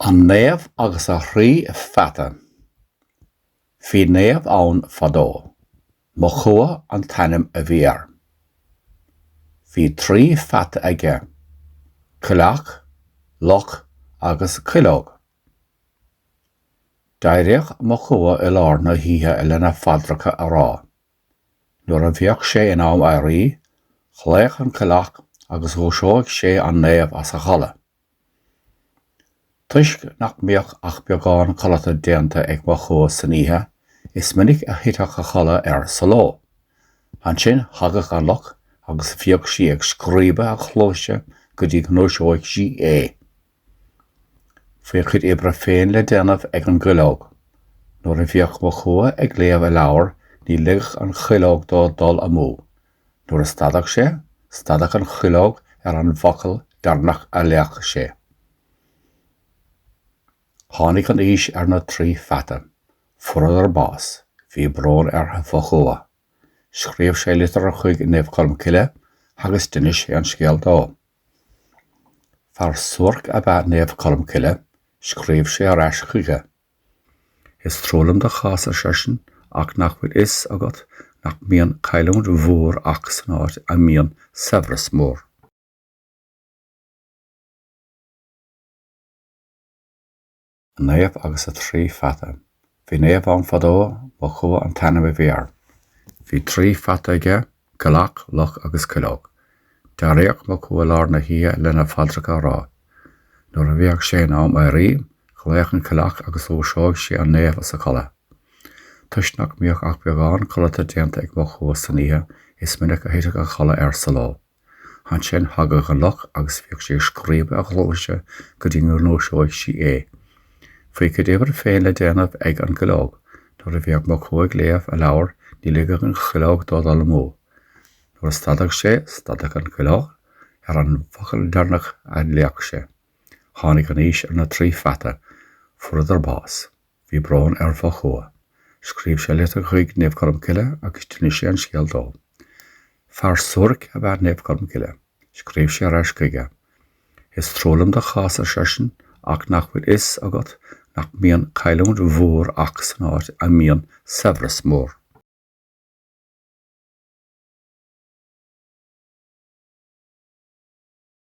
An Naomh agus a Thrí Pheata. Bhí naomh ann fadó. Mochua an t-ainm a bhí air. Bhí trí pheata aige, coileach, luch agus cuileog. D'éiríodh Mochua i lár na hoíche lena phaidreacha a rá. Nuair a bhíodh sé in am éirí, ghlaodh an coileach agus dhúisíodh sé an naomh as a chodladh. Toisc nach mbíodh ach beagán codlata déanta ag Mochua san oíche, is minic a thiteadh a chodladh air sa ló. Ansin thagadh an luch agus bhíodh sí ag scríobadh a chluaise go dtí go ndúisíodh sí é. Bhí a cuid oibre féin le déanamh ag an gcuileog. Nuair a bhíodh Mochua ag léamh a leabhair ní ligeadh an chuileog dó dul amú. Nuair a stadadh sé, stadadh an chuileog ar an bhfocal deireanach a léadh sé. Tháinig an aois ar na trí pheata. Fuaireadar bás. Bhí brón ar Mhochua. Scríobh sé litir chuig Naomh Colmcille agus d'inis sé an scéal dó. Fear suairc ab ea Naomh Colmcille. Scríobh sé ar ais chuige. Is trua liom do chás ar seisean ach nach bhfuil a fhios agat nach mbíonn cailliúint mhór ach san áit a mbíonn saibhreas mór. An Naomh agus a Thrí Pheata. Bhí naomh ann fadó, Mochua an t-ainm a bhí air. Bhí trí pheata aige, Coileach, luch agus cuileog. D'éiríodh Mochua i lár na hoíche lena phaidreacha a rá. Nuair a bhíodh sé in am éirí, ghlaodh an coileach agus dhúisíodh sé an naomh as a chodladh. Toisc nach mbíodh ach beagán codlata déanta ag Mochua san oíche is minic a thiteadh a chodladh air sa ló. Ansin thagadh an luch agus bhíodh sí ag scríobadh a chluaise go dtí go ndúisíodh sí é. Bhí a cuid oibre féin le déanamh ag an gcuileog. Nuair a bhíodh Mochua ag léamh a leabhair ní ligeadh an chuileog dó dul amú. Nuair a stadadh sé, stadadh an chuileog ar an bhfocal deireanach a léadh sé. Tháinig an aois ar na trí pheata. Fuaireadar bás. Bhí brón ar Mhochua. Scríobh sé litir chuig Naomh Colmcille agus d'inis sé an scéal dó. Fear suairc ab ea Naomh Colmcille. Scríobh sé ar ais chuige. Is trua liom do chás, ar seisean, ach nach bhfuil a fhios agat nach mbíonn cailliúint mhór ach san áit a mbíonn saibhreas mór?